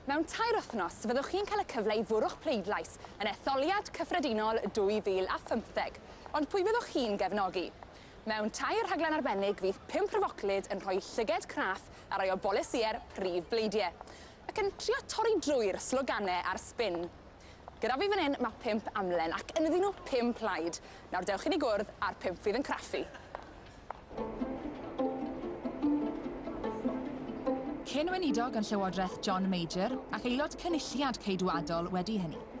Mewn tair wythnos, fyddwch chi'n cael y cyfle i fwrw'ch pleidlais yn etholiad cyffredinol 2015. Ond pwy fyddwch chi'n gefnogi? Mewn tair rhaglen arbennig fydd pump rhyfoclyd yn rhoi llyged craff ar rai o bolisïau'r prif bleidie, ac yn trio torri drwy'r sloganau a'r sbin. Gyda fi fan hyn mae pump amlen, ac ynddyn nhw pum plaid. Nawr dewch i ni gwrdd â'r pump fydd yn craffu. Cyn-weinidog yn Llywodraeth John Major, ac aelod Cynulliad Ceidwadol wedi hynny.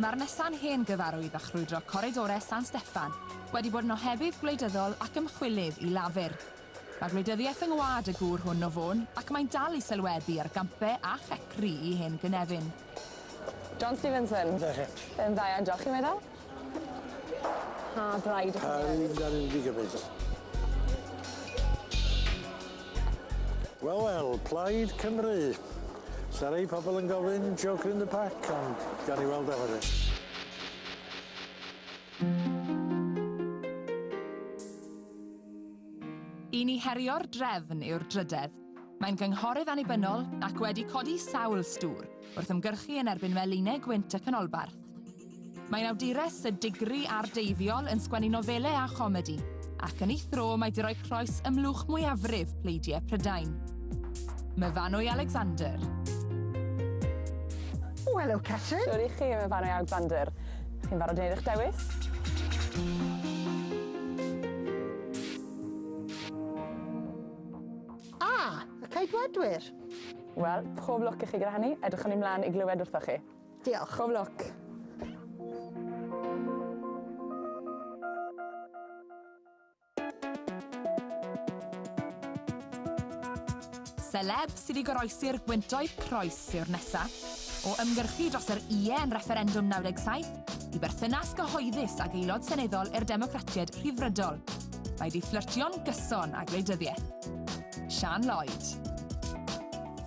Mae'r nesa'n hen gyfarwydd â chrwydro Corridore San Steffan wedi bod yn ohebydd gwleidyddol ac ymchwilydd i Lafur. Mae gwleidyddiaeth yng ngwlad y gŵr hwn o Fôn ac mae'n dal i sylwebu ar gampe a checri i hen gynefin. John Stevenson. That's it. Yn dda iawn, diolch chi'n meddwl? Pa braid ydych chi'n mynd ar un gig efyd? Wel wel, Plaid Cymru. Sa rei pobl yn gofyn Joker in the Pack, ond gawn ni weld efo ni. I ni herio'r drefn yw'r drydedd. Mae'n gynghorydd annibynnol ac wedi codi sawl stŵr wrth ymgyrchu yn erbyn melinau gwynt y canolbarth. Mae'n awdures y digri ar deiddiol yn sgwennu nofelau a chomedi, ac yn ei thro mae di roi croes ymlwch mwyafrif pleidiau Prydain. Myfanwy Alexander. O, helo, Catrin. Siwr i chi, Myfanwy Alexander. Chi'n barod wneud eich dewis? A! Y Ceidwadwyr! Wel, pob lwc i chi gyda hynny. Edrychwn i mlaen i glywed wrthoch chi. Diolch. Pob lwc. Celeb sydd i goroesi'r gwyntoedd croes yw'r nesa. O ymgyrchu dros yr ie yn refferendwm 97, i berthynas gyhoeddus ag aelod seneddol i'r Democratiaid Rhyddfrydol. Mae wedi fflyrtio'n gyson â gwleidyddiaeth. Sian Lloyd.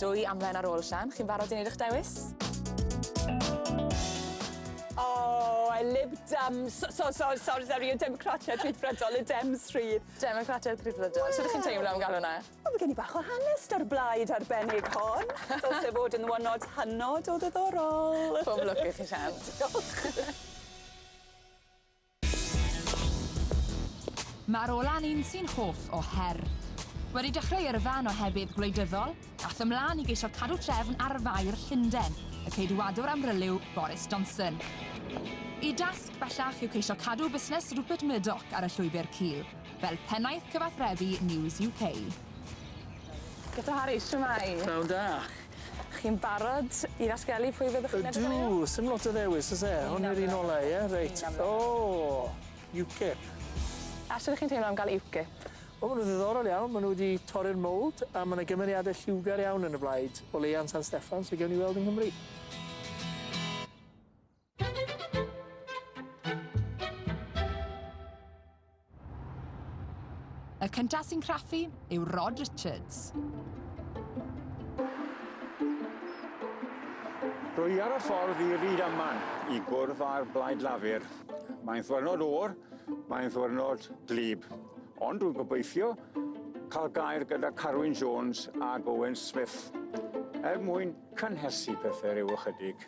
Dwy amlen ar ôl, Sian. Chi'n barod i wneud eich dewis? Oh, I Lib Dems. So, so, so, sorry, sorry, y Democratiaid Rhyddfrydol, y Dems Rhydd. Democratiaid Rhyddfrydol. Sut ydych chi'n teimlo am gael hwnna? O ma' gen i bach o hanes 'da'r blaid arbennig hon. Dylse fod yn one not hynod o ddiddorol. Pob lwc i chi Sian. Diolch. Ma'r ola'n un sy'n hoff o her. Wedi dechreu yrfa yn ohebydd gwleidyddol, ath ymlan i geisio cadw trefn ar faer Llunden, y Ceidwadwr amryliw Boris Johnson. Y dasg bellach yw ceisio cadw busnes Rupert Murdoch ar y llwybr cul. fel pennaeth cyfathrebu News UK. Doctor Harris, shwmae? Pnawn da. Chi'n barod i ddatgelu pwy fyddwch chi'n edrych arnyn nhw? Ydw, sim lot o ddewis oes e? Hwn yw'r un ola ie? Reit. O! UKIP. A shwt 'ych chi'n teimlo am gael UKIP? Wel ma' nhw'n ddiddorol iawn, ma' nhw wedi torri'r mould a ma' 'na gymeriade lliwgar iawn yn y blaid, o leia yn San Steffan, so gewn ni weld yng Nghymru. Y cyntaf sy'n craffu yw Rod Richards. Rwy i ar y ffordd i Ryd Aman i gwrdd â'r Blaid Lafur. Mae'n ddwyrnod o'r, mae'n ddwyrnod glib. Ond dwi'n gobeithio cael gair gyda Carwyn Jones a Owen Smith er mwyn cynhesu pethau rhyw ychydig.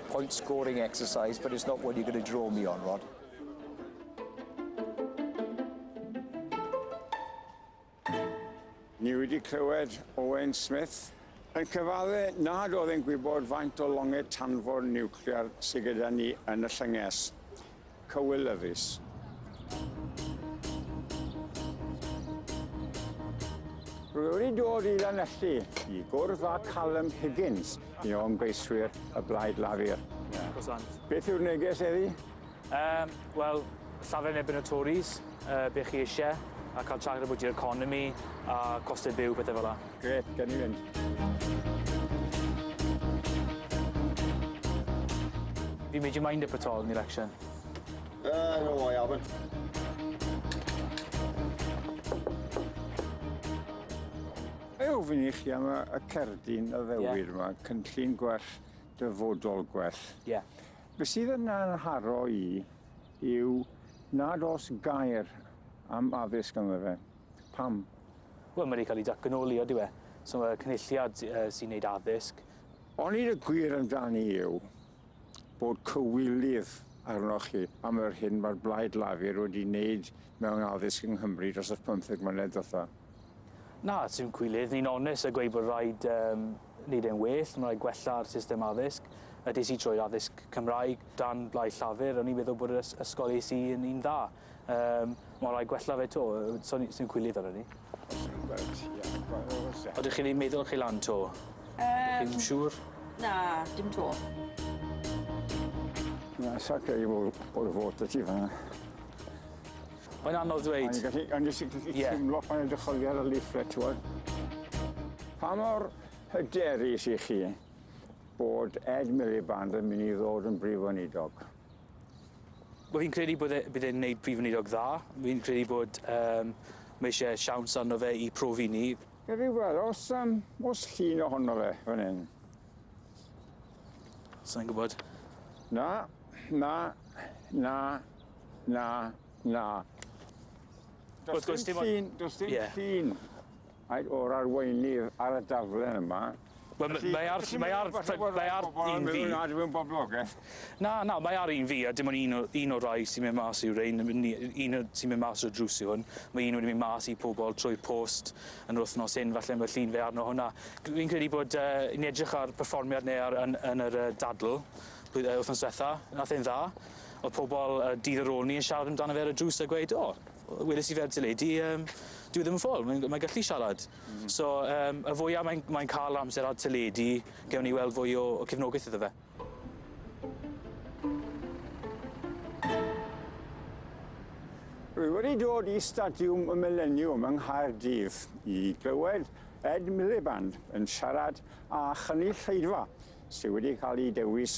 Point scoring exercise but it's not one you're going to draw me on, Rod. Ni wedi clywed Owen Smith yn cyfadde nad oedd e'n gwybod faint o longed tanfor niwclear sydd gyda ni yn y llynges. cywilyddus. Rwy wedi dod i Lanelli i gwrdd â Callum Higgins, un o ymgeiswyr y Blaid Lafur. Beth yw'r neges eddi? Um, Wel, llafur yn ebyn y Tories, uh, be chi eisiau, a cael traged about your economy, a costau byw, pethau fel yna. Gret, gawn ni fynd. Have you made your mind up at all in the election? Uh, no, I haven't. Mae ofyn i chi am y cerdyn y ddewir yeah. yma, cynllun gwell, dyfodol gwell. Ie. Yeah. Be sydd yn anharo i yw nad os gair am addysg yma fe. Pam? Wel, mae 'di cael ei datganoli, odi we? So mae cynulliad sy'n neud addysg. Onid y gwir amdani yw bod cywilydd arnoch chi am yr hyn mae'r Blaid Lafur wedi wneud mewn addysg yng Nghymru dros y pymtheg mlynedd dotha? Na, sy'n cwilydd. Ni'n onest a gweud bod rhaid um, wneud e'n well, mae rhaid gwella'r system addysg. Ydys i troi'r addysg Cymraeg dan Blaid Llafur, o'n i'n meddwl bod yr ysgol es i yn un dda. Yym, ma' rai' gwella fe 'to, yy so ni sy'n cwilydd arnon ni. Reit, ie. Odych chi 'di meddwl chi lan 'to? Yym. Chi'm siŵr? Na, dim 'to. Na, sa credu bo' bo' ryw fo 'dy ti fan 'na. Mae'n anodd dweud. O'n gallu o'n jyst yn gallu... Ie. ...timlo pan edrych oddi ar y leaflet t'wod? Pa mor hyderus 'ych chi bod Ed Miliband yn myn' i ddod yn Brif Weinidog? Wel fi'n credu bod e bydd e'n neud Prif Weinidog dda. Fi'n credu bod yym ma' isie siawns arno fe i profi ni. Gawn ni weld os yym o's llun ohono fe fan 'yn. Sai'n gwbod. Na, na, na, na, na. Do's dim llun, do's dim llun. Faint o'r arweinydd ar y daflen yma? Wel m- mae ar mae ar mae ar un fi. Na dim ond boblogeth. Na na mae ar un fi a dim ond un o un o'r rai sy'n mynd mas yw rein yym ni yy un o sy'n mynd mas o'r drws yw hwn. Mae un wedi mynd mas i pobol trwy'r post yn yr wythnos hyn falle ma' llun fe arno hwnna. Dw i'n credu bod yy ni'n edrych ar perfformiad ni ar yn yn yr yy dadl blwy- yy wythnos dwetha nath e'n dda. O'dd pobol yy dydd ar ôl ni yn siarad amdano fe ar y drws a gweud o Weles i ferch teledu yym dyw e ddim yn ffôl mae'n g- mae'n gallu siarad. Hmm. So yym y fwya mae'n mae'n ca'l amser ar teledu gewn ni weld fwy o o cefnogaeth iddo fe. Rwy wedi dod i Stadiwm y Mileniwm yng Nghaerdydd i glywed Ed Miliband yn siarad â chynulleidfa sy wedi cael ei dewis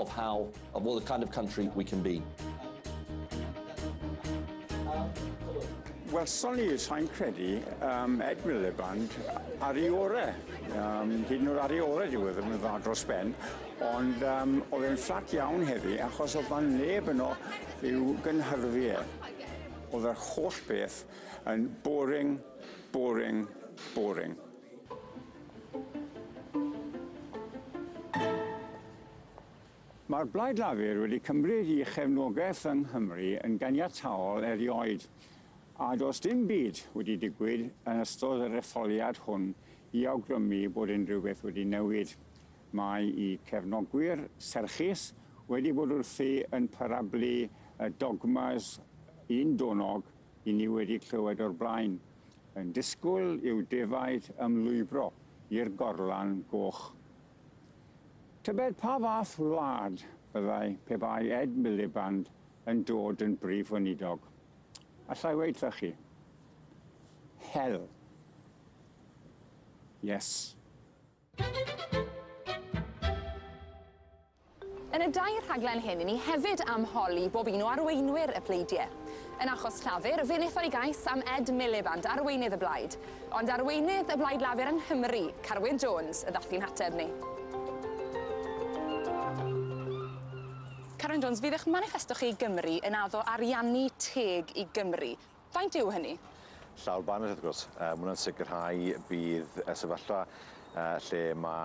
of how, of what the kind of country we can be. Welson ni, sa'n credu, um, Ed Miliband ar ei ore. Um, hyd yn oed ar ei ore diwedd yn dda dros ben. Ond um, oedd e'n fflat iawn heddi achos oedd fan neb yno i'w gynhyrfu e. Oedd yr holl beth yn boring, boring, boring. Mae'r Blaid Lafur wedi cymryd i chefnogaeth yng Nghymru yn ganiataol erioed, a does dim byd wedi digwydd yn ystod yr etholiad hwn i awgrymu bod unrhyw beth wedi newid. Mae i cefnogwyr serchus wedi bod wrthi yn parablu y dogmas un-donog i ni wedi clywed o'r blaen, yn disgwyl i'w defaid ymlwybro i'r gorlan goch. Tybed pa fath wlad fyddai pe bai Ed Miliband yn dod yn brif weinidog? Allai weud wrtha chi. Hel. Yes. Yn y dair rhaglen hyn i ni hefyd am holi bob un o arweinwyr y pleidie. Yn achos Llafur, fe wnaethai gais am Ed Miliband, arweinydd y blaid. Ond arweinydd y Blaid Lafur yng Nghymru, Carwyn Jones, y ddath i'n hateb ni. Carwyn Jones, fydd eich maniffesto chi i Gymru yn addo ariannu teg i Gymru. Faint yw hynny? Llawr banners wrth gwrs. Yy ma' hwnna'n sicrhau bydd y sefyllfa yy lle ma'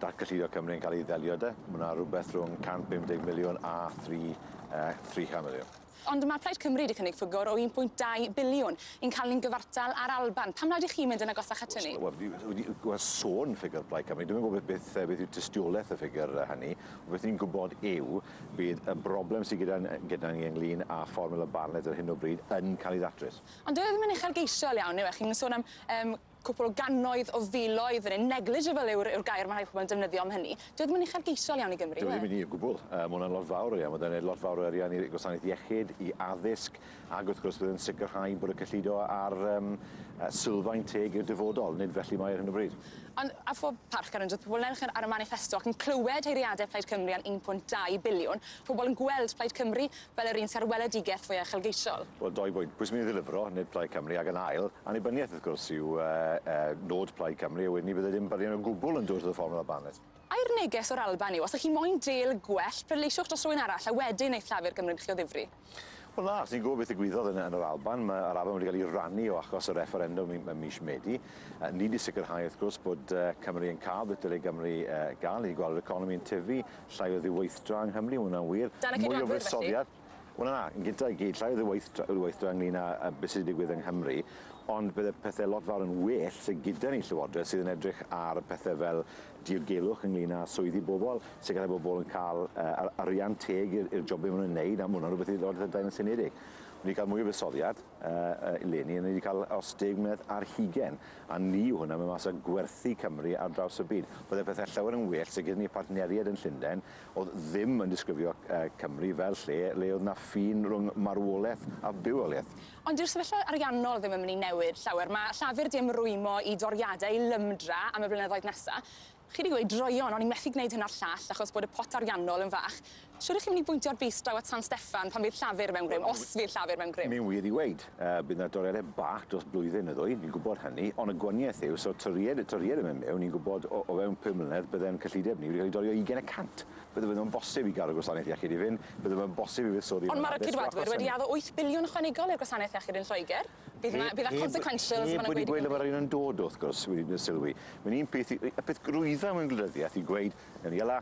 datgyllido Cymru yn cael ei ddelio 'de. Ma' 'na rwbeth rhwng 150 miliwn a thri yy 300 miliwn. Ond ma' Plaid Cymru 'di cynnig ffigwr o 1.2 biliwn i'n cael ni'n gyfartal â'r Alban. Pam nad 'ych chi'n mynd yn agosach at hynny? Wel fi wedi gweld sôn ffigwr Plaid Cymru. Dwi'm yn gwybod beth yy beth yw tystiolaeth y ffigwr yy hynny. Beth ni'n gwybod yw Bydd y broblem sydd gyda gyda ni ynglŷn â Fformiwla Bartlett ar hyn o bryd yn cael ei ddatrys. Ond dyw e ddim yn uchelgeisiol iawn, yw e? Chi'n sôn am yym cwpl o gannoedd o filoedd fan hyn, negligible yw'r yw'r gair ma' rhai pobl yn defnyddio am hynny. Dyw e ddim yn uchelgeisiol iawn i Gymru, yw e? Dyw e ddim yn, o gwbwl. Yy ma' hwnna'n lot fawr o arian. Ma' 'di neud lot fawr o arian i gwasanaeth iechyd, i addysg, Ac wrth gwrs, bydd yn sicrhau bod y cyllido ar um, sylfaen teg i'r dyfodol, nid felly mae ar hyn o bryd. Ond a phob parch ar undod pobl nerch ar y maniffesto ac yn clywed heiriadau Plaid Cymru am 1.2 biliwn, pobl yn gweld Plaid Cymru fel yr un sy'r weledigaeth fwy uchelgeisiol. Wel, doi bwynt. Pwy sy'n mynd i ddilifro, nid Plaid Cymru, ac yn ail, annibyniaeth wrth gwrs yw uh, uh, nod Plaid Cymru, a wedyn ni byddai ddim byrion o gwbl yn dod to the formula Barnett. Ai'r neges o'r Alban yw, os ych chi moyn deal gwell, pleidleisiwch dros rywun arall a wedyn eith llafur Gymru'n chi o ddifri. Wel na, os ni'n gwybod beth ddigwyddodd yn, yn yr Alban, mae yr Alban wedi cael ei rannu o achos y refferendwm ym mis Medi. Uh, ni wedi sicrhau, wrth gwrs, bod uh, Cymru yn cael beth dyle Gymru uh, gael. Ni wedi gweld yr economi yn tyfu, llai o ddiweithdra yng Nghymru, hwnna'n wir. Dan y Mwy o fuddsoddiad. Wel na, yn gyda i gyd, llai o ddiweithdra, ddiweithdra ynglyn â uh, beth sydd wedi digwydd yng Nghymru, ond bydde pethau lot fawr yn well sydd gyda ni llywodraeth sydd yn edrych ar pethau fel dirgelwch ynglŷn â swyddi bobl, sicrhau bod pobl yn cael yr arian teg i'r jobau maen nhw'n ei wneud, a mae hwnna'n rhywbeth i Lywodraeth Prydain yn seiliedig. Ni wedi cael mwy o fuddsoddiad eleni, a ni wedi cael os deg mlynedd ar hugain, a ni yw hwnna, mae mas o gwerthu Cymru ar draws y byd. Byddai pethau llawer yn well se gyda ni partneriaid yn Llundain oedd ddim yn disgrifio Cymru fel lle le oedd 'na ffin rhwng marwolaeth a bywoliaeth. Ond dyw'r sefyllfa ariannol ddim yn mynd i newid llawer. Mae Llafur 'di ymrwymo i doriadau i lymdra am y blynyddoedd nesa'. Chi 'di gweud, 'Droeon, o'n i methu gwneud hyn a'r llall achos bod y pot ariannol yn fach'. Shwt 'ych chi'n mynd i bwyntio'r bys draw at San Steffan pan fydd Llafur mewn grym, os fydd Llafur mewn grym? Mae'n wir i weud, bydd 'na doriadau bach dros blwyddyn neu ddwy, ni'n gwybod hynny, ond y gwanieth yw, os yw'r toriad, y toriad yn mynd mewn, ni'n gwybod o fewn pum mlynedd bydde'n cyllideb ni wedi cael ei dorio ugain y cant. Bydde fe ddim yn bosib i gadw gwasanaeth iechyd i fynd, bydde fe'n bosib i fuddsoddi mewn addysg o achos hynny. Ond mae'r Ceidwadwyr wedi addo wyth biliwn ychwanegol i'r gwasanaeth iechyd yn Lloegr. Bydd 'na... bydd 'na consequentials fel mae'n gweud i gymdeithas. Heb wedi gweud le mae'r arian yn dod wrth gwrs, wedi gwneud sylwi. Mae'n un peth i... y peth drwydda mewn gwleidyddiaeth yw gweud, newn ni ala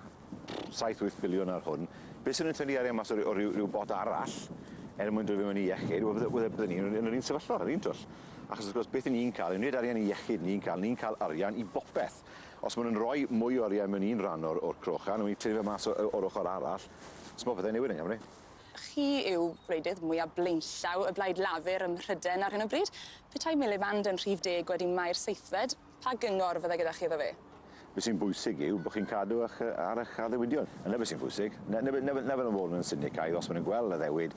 saith wyth biliwn ar hwn, beth sy'n nhw'n tynnu arian mas o ryw o ryw ryw bot arall er mwyn dod i mewn i iechyd, wel bydde bydde bydde ni yn yr un sefyllfa yr un twll. Achos wrth gwrs beth 'yn ni'n ca'l yw nid arian i iechyd ni'n ca'l, ni'n ca'l arian i bopeth. Os ma' nw'n roi mwy o oriau mewn un ran o'r o'r cwch a newn ni tynnu fe mas o- yy o'r ochor arall so ma' pethe'n newid yng Nghymru. Chi yw gwleidydd mwya blaenllaw y Blaid Lafur ym Mhryden ar hyn o bryd. Petai Miliband yn rhif deg wedi mai'r seithfed, pa gyngor fydde gyda chi iddo fe? Be' sy'n bwysig yw bo' chi'n cadw 'ych yy ar 'ych addewidion. 'Na be' sy'n bwysig. 'Na 'na be' 'na fe 'na fel o'n fod yn sinicaidd os ma' nw'n gweld addewid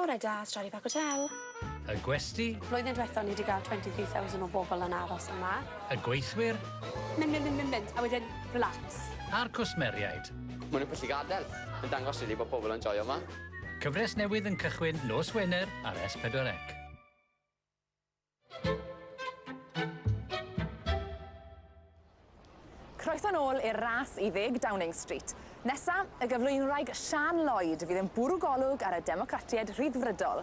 Bore da, Stradley Park Hotel. Y gwesty. Flwyddyn dwetha ni 'di ga'l twenty three thousand o bobol yn aros yma. Y gweithwyr. Mynd mynd mynd mynd mynd a wedyn relax. A'r cwsmeriaid. Ma' nw'n pwll i gadel. Yn dangos rili bo' pobol yn joio 'ma. Cyfres newydd yn cychwyn nos Wener ar S4C. Croeso nôl i'r ras i ddeg Downing Street. Nesa, y gyflwynwraig Siân Lloyd fydd yn bwrw golwg ar y Democratiaid Rhyddfrydol.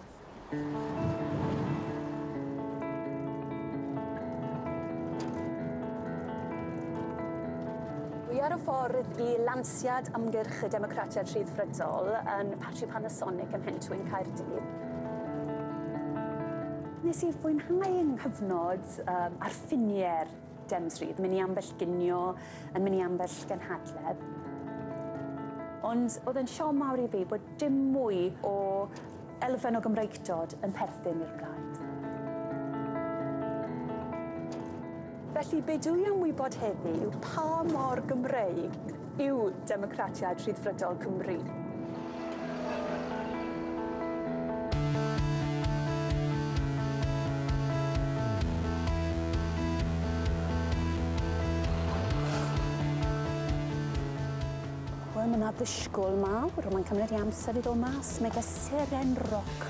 Dwi ar y ffordd i lansiad ymgyrch y Democratiaid Rhyddfrydol yn Ffatri Panasonic ym Mhentwyn, Caerdydd. Nes i fwynhau yng nghyfnod um, ar ffiniau'r Dems Rhydd, mynd i ambell ginio, yn mynd i ambell gynhadledd. Ond oedd e'n siom mawr i fi bod dim mwy o elfen o Gymreigdod yn perthyn i'r blaid. Felly, be dwi am wybod heddi yw pa mor Gymreig yw Democratiaid Rhyddfrydol Cymru? Wel, mae yna ddysgol mawr, ond mae'n cymryd i amser i ddod mas. Mae fe seren roc.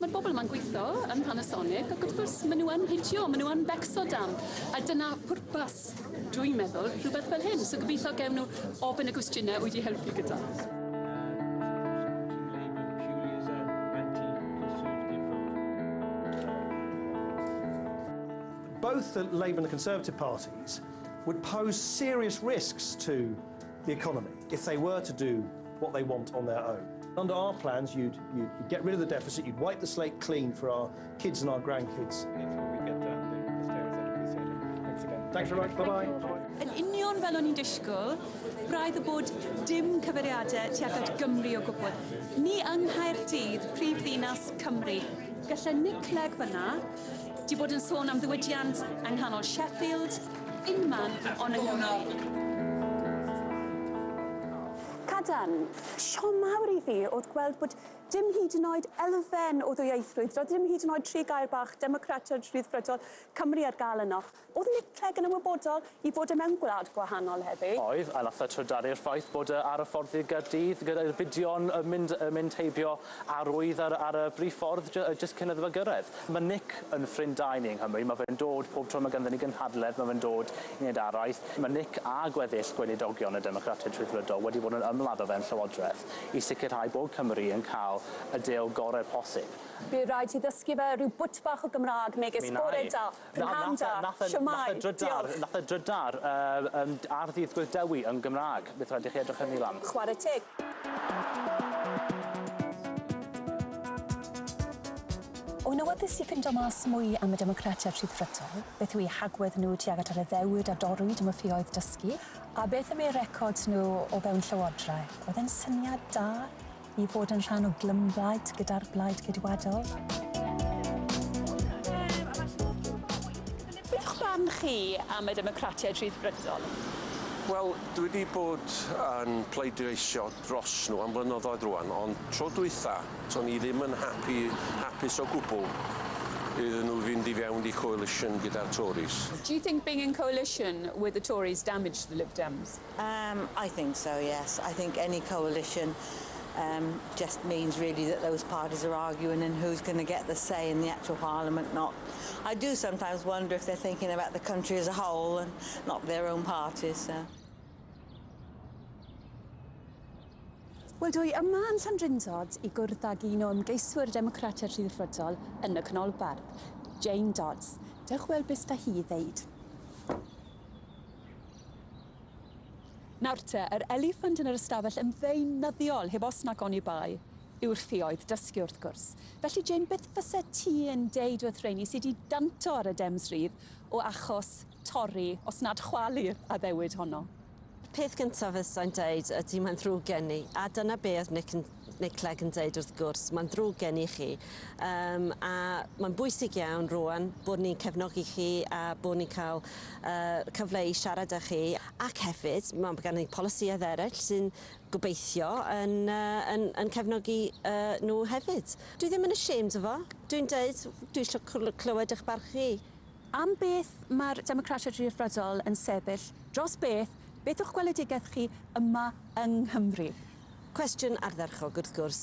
Mae'r bobl yma'n gweithio yn Panasonic ac wrth gwrs maen nhw yn hitio, maen nhw yn becso dam. A dyna pwrpas, dwi'n meddwl, rhywbeth fel hyn. So gobeithio gewn nhw ofyn y gwestiynau wyt ti helpu gyda. Both the Labour and the Conservative parties would pose serious risks to the economy if they were to do what they want on their own. Under our plans, you'd, you'd, you'd get rid of the deficit, you'd wipe the slate clean for our kids and our grandkids. Thanks very much, bye-bye. Yn union fel o'n i'n disgwyl, braidd y bod dim cyfeiriadau tuag at Gymru o gwbl. Ni yng Nghaerdydd, prif ddinas Cymru. Gallai Nick Clegg fyna, di bod yn sôn am ddiwydiant yng nghanol Sheffield, Dim man on yng Nghymru. Cadarn. Siom mawr i fi o'dd gweld bod dim hyd yn oed elfen o ddwyieithrwydd, doedd dim hyd yn oed tri gair bach democratod, rhyddfrydol, Cymru ar gael yno. O'dd Nick Clegg yn ymwybodol 'i fod e mewn gwlad gwahanol heddi? Oedd, a nath e trydaru'r ffaith bod e ar y ffordd i Gaerdydd gydai'r fideo'n yy mynd yy mynd heibio A rwyf ar ar y brif ffordd jy- jyst cyn iddo fe gyrraedd. Mae Nick yn ffrind da i ni yng Nghymru, mae fe'n dod pob tro mae ganddyn ni gynhadledd, mae fe'n dod i wneud araith. Mae Nick a gweddill Gweinidogion y Democratiaid Rhyddfrydol wedi bod yn ymladd o fewn Llywodraeth i sicrhau bod Cymru yn cael y deal gorau posib. Bydd rhaid ti ddysgu fe rhyw bwt bach o Gymraeg megis bore da. Fy mham da, shwmae, diolch. Nath e drydar yy yym ar ddydd Gwyl Dewi yn Gymraeg. Bydd rhaid i chi edrych hynny lan. Chware teg. Yn awyddus i ffindo mas mwy am y Democratiaid Rhyddfrydol, beth yw eu hagwedd nhw tuag at yr addewid a dorrwyd am y ffioedd dysgu, a beth am eu records nhw o fewn llywodraeth, oedd e'n syniad da. I fod yn rhan o glymblaid gyda'r Blaid Geidwadol. Beth yw'ch barn chi am y Democratiaid Rhyddfrydol? Wel, dwi wedi bod yn pleidleisio dros nhw am flynyddoedd rwan, ond tro dwytha, to'n i ddim yn happy, hapus o gwbl iddyn nhw fynd i fewn i coalition gyda'r Tories. Do you think being in coalition with the Tories damaged the Lib Dems? Yym, I think so, yes. I think any coalition um, just means really that those parties are arguing and who's going to get the say in the actual parliament, not... I do sometimes wonder if they're thinking about the country as a whole and not their own parties, so... Wel, dwi yma yn Llandrindod i gwrdd ag un o ymgeiswyr Democratiaid Rhyddfrydol yn y Canolbarth, Jane Dodds. Dewch weld beth da hi i ddeud. Nawr te, yr eliffant yn yr ystafell yn ddeunyddiol, heb os nac oni bai, yw'r ffioedd dysgu, wrth gwrs. Felly, Jane, beth fyset ti yn deud wrth rheini sy 'di danto ar y Dems rydd o achos torri, os nad chwalu, yr addewid honno? Y peth gyntaf fysai'n deud ydy mae'n ddrwg gen i, a dyna be' oedd Nick yn Mae Clegg yn dweud wrth gwrs, mae'n ddrwg gen i chi, um, a mae'n bwysig iawn rwan bod ni'n cefnogi chi a bod ni'n cael uh, cyfle i siarad â chi, ac hefyd mae gan ni polisïau eraill sy'n gobeithio yn, uh, yn, yn cefnogi uh, nhw hefyd. Dwi ddim yn ashamed o fo, dwi'n dweud, dwi eisiau clywed eich barch chi. Am beth mae'r Democratiaid Rhyddfrydol yn sefyll dros beth, beth yw'ch gweledigaeth chi yma yng Nghymru? Cwestiwn ardderchog, wrth gwrs.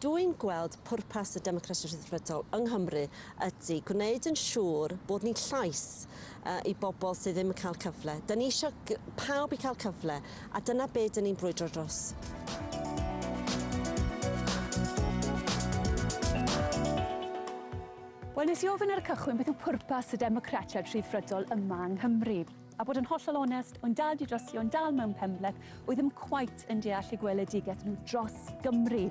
Dwi'n gweld pwrpas y Democratiaid Rhyddfrydol yng Nghymru ydy gwneud yn siŵr bod ni'n llais i bobl sydd ddim yn cael cyfle. Dyn ni eisiau pawb i cael cyfle, a dyna be dyn ni'n brwydro dros. Wel, nes i ofyn ar y cychwyn beth yw pwrpas y Democratiaid Rhyddfrydol yma yng Nghymru. A bod yn hollol onest, o'n dad i drosi, o'n dal mewn penbleth, oedd ddim cweit yn deall eu gweledigaeth nhw dros Gymru.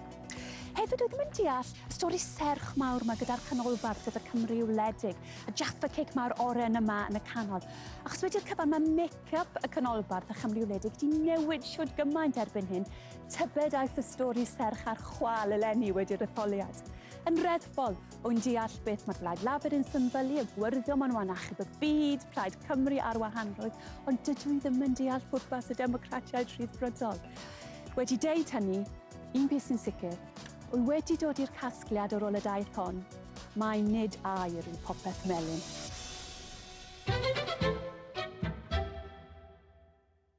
Hefyd oedd ddim yn deall y stori serch mawr ma gyda'r canolbarth, gyda Cymru wledig, a Jaffa Cake mawr oren yma yn y canol. Achos wedi'r cyfan mae make-up y canolbarth a Chymru wledig wedi newid siwt gymaint erbyn hyn, tybed aeth y stori serch a'r chwal eleni wedi'r etholiad. Yn reddfol, O'n deall beth mae'r Blaid Lafur yn symbylu, y gwyrddion maen nhw yn achub y byd, Plaid Cymru a'r wahanrwydd, ond dydw i ddim yn deall pwrpas y Democratiaid Rhyddfrydol. Wedi deud hynny, un peth sy'n sicr, wy wedi dod i'r casgliad ar ôl y daith hon, mai nid air yw popeth melyn.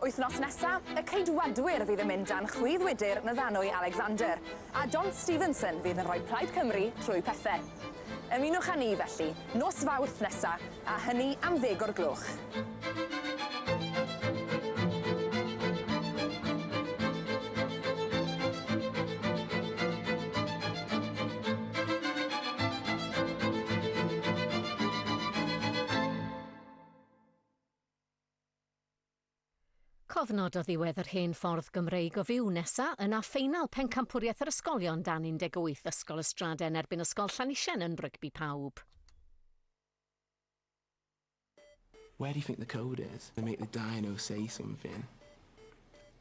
Wythnos nesa, y Ceidwadwyr fydd yn mynd dan chwith wydr Nyfanwy Alexander, a John Stevenson fydd yn rhoi Plaid Cymru trwy pethe. Ymunwch â ni, felly, nos Fawrth nesa, a hynny am ddeg o'r gloch. Cofnod o ddiwedd yr hen ffordd Gymreig o fyw nesa yna ffeinal pencampwriaeth yr ysgolion dan 18 Ysgol Ystraden erbyn Ysgol Llanisien yn rygbi pawb. Where do you think the code is to make the dino say something?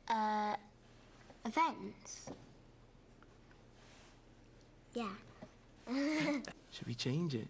Yy y vents? Ie. Should we change it?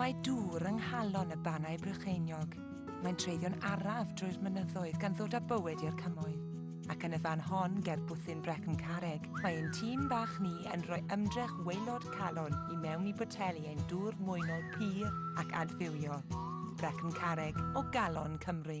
Mae dŵr yng nghalon y Bannau Brycheiniog. Mae'n treiddio'n araf drwy'r mynyddoedd gan ddod â bywyd i'r cymoedd. Ac yn y fan hon, ger bwthyn Brecon Carreg, mae ein tîm bach ni yn rhoi ymdrech waelod calon i mewn i boteli ein dŵr mwynol pur ac adfywiol, Brecon Carreg, o galon Cymru.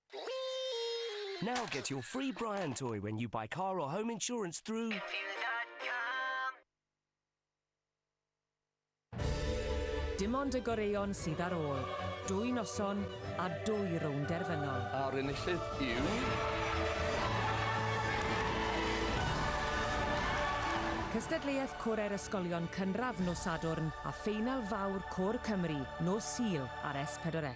Now get your free Brian toy when you buy car or home insurance through... Dim ond y goreuon sydd ar ôl. Dwy noson a dwy rownd derfynol. A'r enillydd yw... Cystadleuaeth Corau'r Ysgolion Cynradd nos Sadwrn a ffeinal fawr Côr Cymru nos Sul ar S4C.